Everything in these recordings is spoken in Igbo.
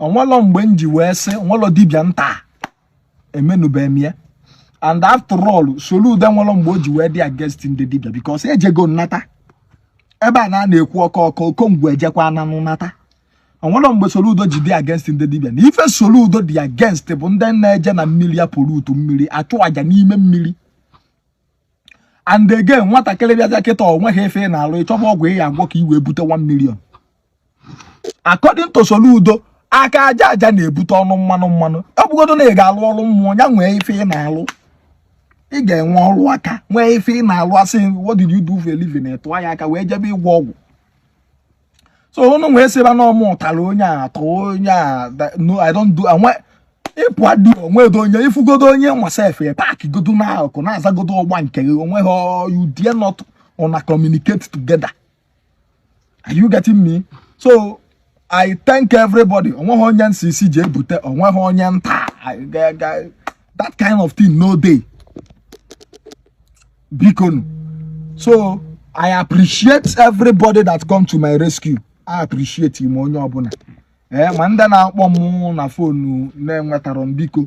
onwelọ mgbe m ji wee sị onwelọ dibịa m ta emenụbeghị m ya and after all Soludo nwelọ mgbe o ji wee dị against ndị dibịa because ejego m nata ebe a na na-ekwu ọkọ ọkọ okongwu ejekwa ananụ nata onwelọ mgbe Soludo ji dị against ndị dibia na ife Soludo dị against bụ ndị na-eje na mmiri a pollute mmiri achụ aja n'ime mmiri and again nwatakịrị bịazịa kịta onweghị ife ị na-alụ ịchọba ọgwụ ị ya agwọ ka i wee bute 1 million according to Soludo aka aja aja na-ebute ọnụ mmanụ mmanụ ọ bụgodo na ị ga-alụ ọrụ mmụọ ya nwee ife ị na-alụ ị ga-enwe ọrụ aka nwee ife ị na-alụ asị what did you do for a living tụọ ya aka wee jebe ịgwọ ọgwụ so unu wee sịba na ọ mụ tara onye a atọ onye a no i don't do anwe ịpụ adị onwedo onye ifugodo onye nwa sef park godo na akụ na-azagodo ọgba nke gị onwe gị you dare not una communicate together are you getting me so i thank everybody onweghị onye m sị sị jee bute onweghị onye m ta that kind of thing no dey bikonu so i appreciate everybody that come to my rescue i appreciate ime onye ọbụla ee eh, ma ndị na-akpọ m na phone na-enwetarọ m biko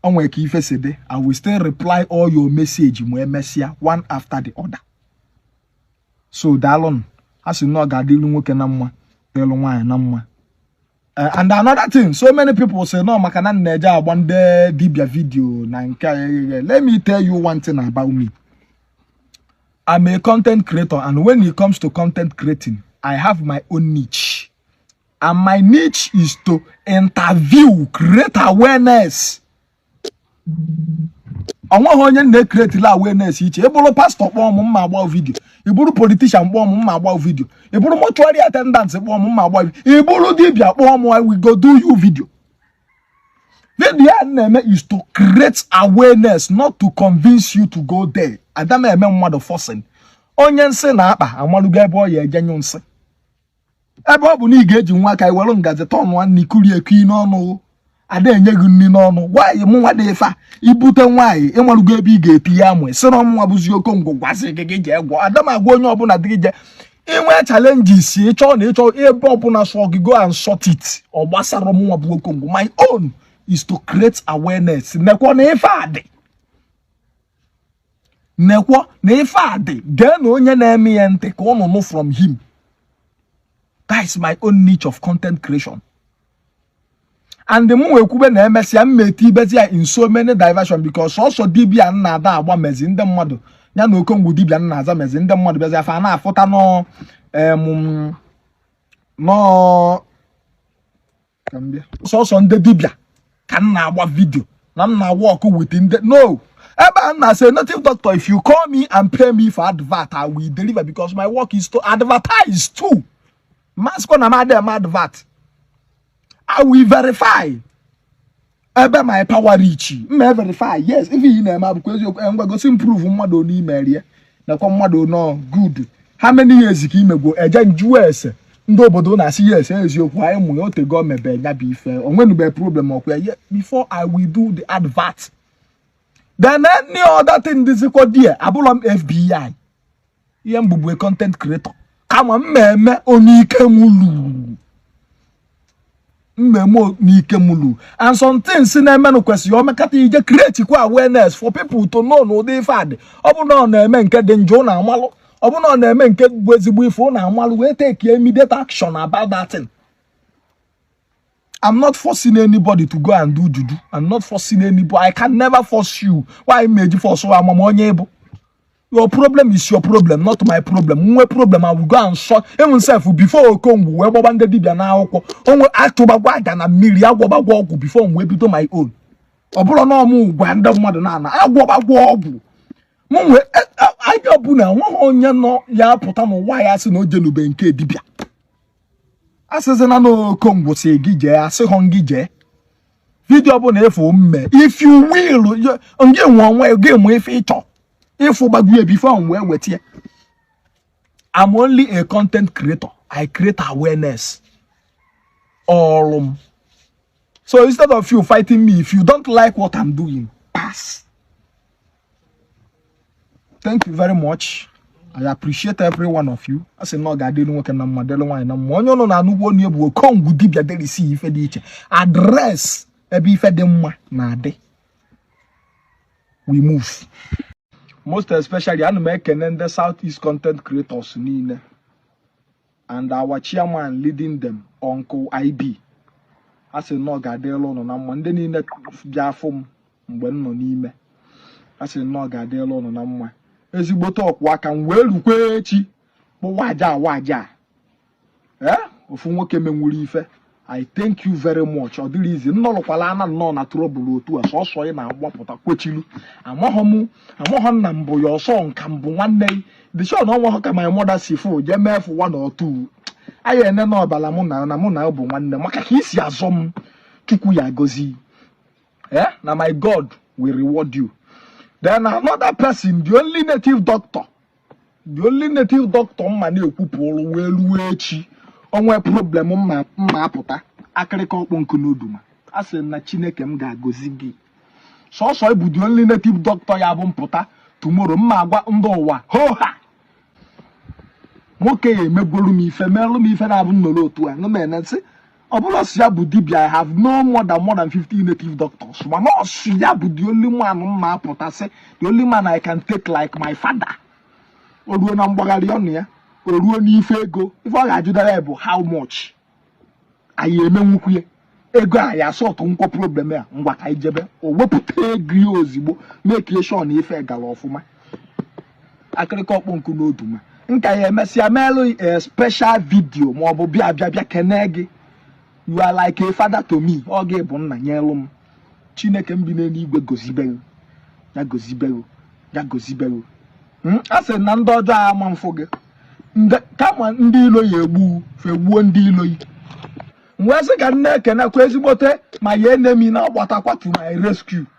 onwe ka ife si dị i will still reply all your message ma emesịa one after the other so daalụnụ a sị na ọ ga-adịlụ nwoke na mma dịlụ nwaanyị na mma eh, and another thing so many people sị na ọ maka na m na-eje agba ndị dibia video na nke agheghe let me tell you one thing about me I'm a content creator and when it comes to content creating I have my own niche and my niche is to interview create awareness onweghị onye m na-ecreateli awareness iche ịbụrụ pastor kpọọ m mma agba video ịbụrụ politician kpọọ m mma agba video ịbụrụ mortuary attendant kpọọ m mma agba video ịbụrụ dibia kpọọ m we go do you video video a na-eme is to create awareness not to convince you to go there ada m eme mmadụ forcing onye nsị na-akpa amalugo ebe ọ ya eje nyụ nsị ebe ọ bụ na ị ga-eji nwa aka ị were ngazi tọọ nwa nri kurie eku n'ọnụ ada enye gị nri n'ọnụ nwaanyị mụ nwa dị ifa ibute nwaanyị ịmarugo ebe ị ga-eti ya amụ sịrọ mụ nwa bụzi okongwu gwa sị gị gị jee gwọ ada m agwa onye ọbụla sị gị jee inwe challenges ịchọ na ịchọ ebe ọbụla sọ gị go and sort it ọ gbasara mụ nwa bụ okongwu my own is to create awareness nekwa na ife a dị nekwo na ife a dị gee na onye na-eme ya ntị ka ụnụ nụ from him that is my own niche of content creation and m wee kwube na emesịa mma etibezi ya in so many diversion because ọ sọ dibia m na ada agba mezi ndị mmadụ ya na okongwu dibia m na-aza mezi ndị mmadụ bịazi afa a na-afụta no sọsọ ndị dibịa ka m na-agba video na m na-a work with ndị nọ ebe a na-asị native doctor if you call me and pay me for advert i will deliver because my work is to advertise too masko na m adịghị m advert i will verify ebe my power reach m verify yes ife ị na-eme ọ bụkwa eziokwu eh, ngwa gosi m proof mmadụ one i mere ya nakwa mmadụ nọ good how many years ka i mego e jee m jụọ ese ndị obodo na-asị yes eziokwu anyị mụrụ o tego mebe ya bụ ife o nwenube problem ọkwa ya before i will do the advert then any other thing dịzikwa there abụrọ m fbi ihe m bụ bụ content creator kama m meme one ike m luru m meme one ike m luru and some things na-emenụ kwesịrị o mekata ị je create kwa awareness for people to know na ụdị ife a dị ọ bụrụ na ọ na-eme nke dị njọ na amalụ ọ bụrụ na ọ na-eme nke bụ ezigbo ife na amalụ wee take immediate action about that thing I'm not forcing anybody to go and do juju. I'm not forcing anybody. I can never force you. Why m eji force ama m onye ị bụ? your problem is your problem not my problem m nwee problem I will go and solve even sef before okongwu wee gbaba ndị dibịa n'akwụkwọ onwe achụbagwo aja na mmiri agwọbagwo ọgwụ before m wee bido my own ọ bụrọ na ọ mụ gwa ndị mmadụ na-ana agwọbagwo ọgwụ m wee e, e, aja ọbụla nweghị onye nọ ya pụta n'ụwa ya sị na o jenube nke dibịa a sịzịna na okongwu sị gị jee asịghọ m gị jee video ọbụla ị fụ m mee if you will gị nwe onwe gị mee ife ị chọ ị fụbagwo ya before m wee weta ya I'm only a content creator I create awareness ọrụ m so instead of you fighting me if you don't like what I'm doing pass thank you very much I appreciate every one of you a sị na ọ ga-adịrị nwoke na mma dịrị nwaanyị na mma onye ụnụ na-anụgbu onu ya bụ okongwu dibịa address ife dị iche address ebe ife dị mma na-adị we move most especially ana m ekene ndị south east content creators niile and our chairman leading them uncle ib a sị na ọ ga-adịrị ụnụ na mma ndị niile bịa fụ m mgbe m nọ n'ime a sị na ọ ga-adịrị ụnụ na mma ezigbote ọkwụ aka m wee rukwa echi kpụwa aja awa aja ee ofu nwoke menwuru ife i thank you very much ọ dịrọ easy nnọrọkwala ana nnọọ na trouble otu a sọsọ ị na-agbapụta kwechilu amaghọ m amaghọ nna m bụ ya ọ sọ ka m bụ nwanne gị the show na ọnwa ka my mother si fụ jee mee fụ one or two anyị ene na ọbala mụ na na mụ na bụ nwanne maka ka i si azọ m chukwu ya gozi eh na my god will reward you then another person the only native doctor the only native doctor m ma na-ekwupụrụ wee ruo echi o nwee problem m ma apụta akịrịka ọkpọ nkụ n'oduma a sị na chineke m ga-agọzi gị sọsọ ị bụ the only native doctor ya bụ m pụta tomorrow m ma agwa ndị ụwa ho ha nwoke a emegolu m ife merụ m ife na-abụ m nọrọ otu a nụ m ene nsị ọ bụrụ sị ya bụ dibia I have known more than more than 50 native doctors mana ọ sọ ya bụ the only man m ma apụta sị the only man I can take like my father o ruo na mgbagharị ọnụ ya o ruo n'ife ego ife ọ ga-ajụdara ya bụ how much anyị emenwukwu ya ego a ya sọtụ nkwọ problem ya ngwa ka anyị jebe o wepụta ego ya ozigbo make sure na ife gara ọfụma akịrịka ọkpọ nkụ n'oduma m ka ya-emesịa meelụ a special video ma ọ bụ bịa bịa bịa kene gị you are like a father to me ọ gị bụ nna nyelụ m chineke m bi n'eluigwe gozibe gị gozibe gị gozibe gị hmm? a sị na ndị ọjọọ ama mfụ gị kama ndị ilo ya egbu fa egbuo ndị ilo yi wee sị ka m na-ekenekwa ezigbote my enemy na-agbatakwa to my rescue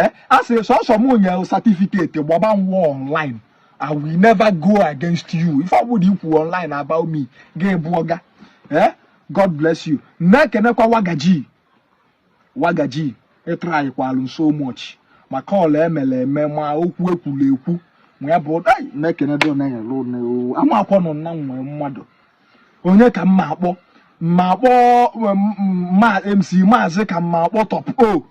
eh, a sị sọsọ m nye certificate gbaba nwa online I will never go against you ife ọbụla i kwu online about me gị bụ ọga eh, God bless you na-ekenekwa wagaji wagaji ị try-kwalụ so much ma call emere eme ma okwu ekwuru ekwu ma ya bụ na-ekene dị amakwa nọ na nwee mmadụ onye ka m ma akpọ m ma akpọ ma MC Maazị ka m ma akpọ top o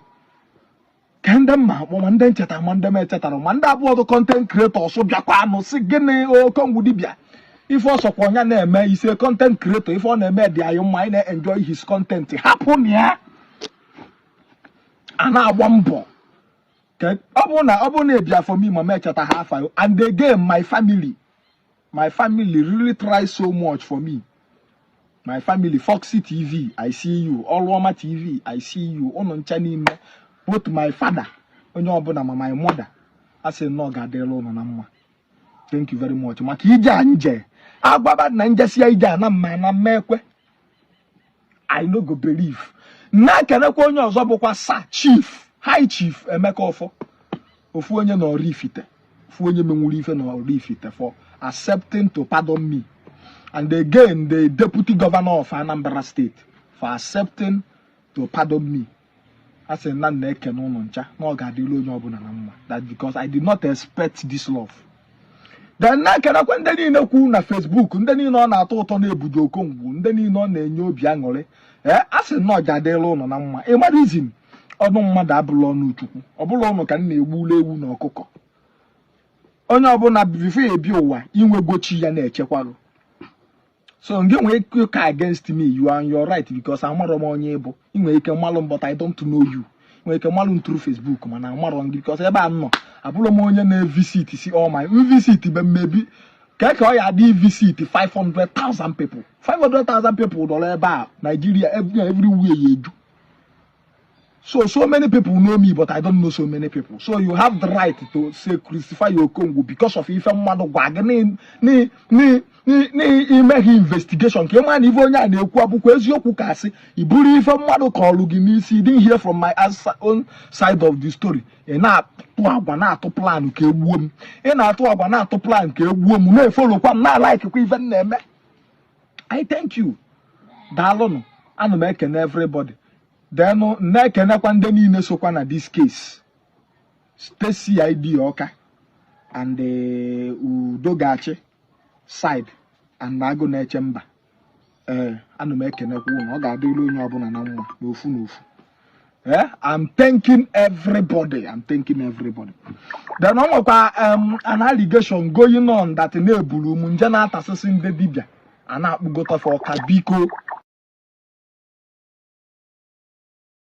ka ndị m ma akpọ ma ndị m cheta ma ndị m echetarọ ma ndị bụọdụ content creators bịakwa anụ si gịnị Okongwu Dibia ife ọ sọkwa ya na-eme he's a content creator ife ọ na-eme dị anyị mma anyị na-enjoy his content hapụ na ya a na-agba mbọ ọ bụrụ na ọ bụrụ na e bear for me ma m echeta ha afa and again my family my family really try so much for me my family Foxy TV I see you Oluoma TV I see you ụnụ ncha n'ime both my father onye ọbụla ma my mother a sị na ọ ga-adịrị ụnụ na mma thank you very much maka ije a m je a gwaba na m jesia ije a na m ma na m ma ekwe I no go believe na-ekenekwa onye ọzọ bụkwa Sir chief high chief Emeka Offor ofu onye na Oraifite ofu onye menwuru ife na Oraifite for accepting to pardon me and again the deputy governor of Anambra State for accepting to pardon me a sị na m na-ekene ụnụ ncha na ọ ga-adịrị onye ọbụla na mma that because I did not expect this love then na-ekenekwa ndị niile kwu na Facebook ndị niile ọ na-atọ ụtọ na ebudo Okongwu ndị niile ọ na-enye obi aṅụrị ee eh, a sị na ọ ga-adịrị ụnụ na mma ị ma reason ọnụ mmadụ abụla ọnụ Chukwu ọ bụla ụnụ ka m na-egbulu ewu na ọkụkọ onye ọbụla before ị bịa ụwa i nwego chi ya na-echekwarụ so ngị nwee ike ka against me you are on your right because amarọ m onye ị bụ ị nwere ike malụ m but I don't know you ị nwere ike malụ m through Facebook mana amarọ m gị because ebe a nọ abụrụ m onye na-evisit si all my visit be maybe ka ka ọ ya adị visit 500,000 people 500,000 people dọrọ ebe a Nigeria everywhere ya eju So, so many people know me, but I don't know so many people. So you have the right to say crucify Okongwu because of ife mmadụ gwa gị n'imeghị investigation ka ị ma na ife onye a na-ekwu ọ bụkwa eziokwu ka asị i buru ife mmadụ kọlụ gị n'isi didn't hear from my own side of the story ị na-atụ agwa na-atụ plan ka egbuo m ị na-atụ agwa na-atụ plan ka egbuo m na-efollowkwa m na-alikekwa ife m na-eme i thank you daalụnụ ana m ekene everybody then na-ekenekwa ndị niile sokwa na this case State CID Ọka and eh, Udo Ga-achị side and Agụnaechemba ee eh, ana m ekenekwa ụnụ ọ ga-adịrị onye ọbụla na mma n'ofu n'ofu Eh, I'm thanking everybody. I'm thanking everybody. Then ọ nwekwa um, an allegation going on that na e buru m m je na-atasịsị ndị dibịa a na-akpụgota fa Ọka biko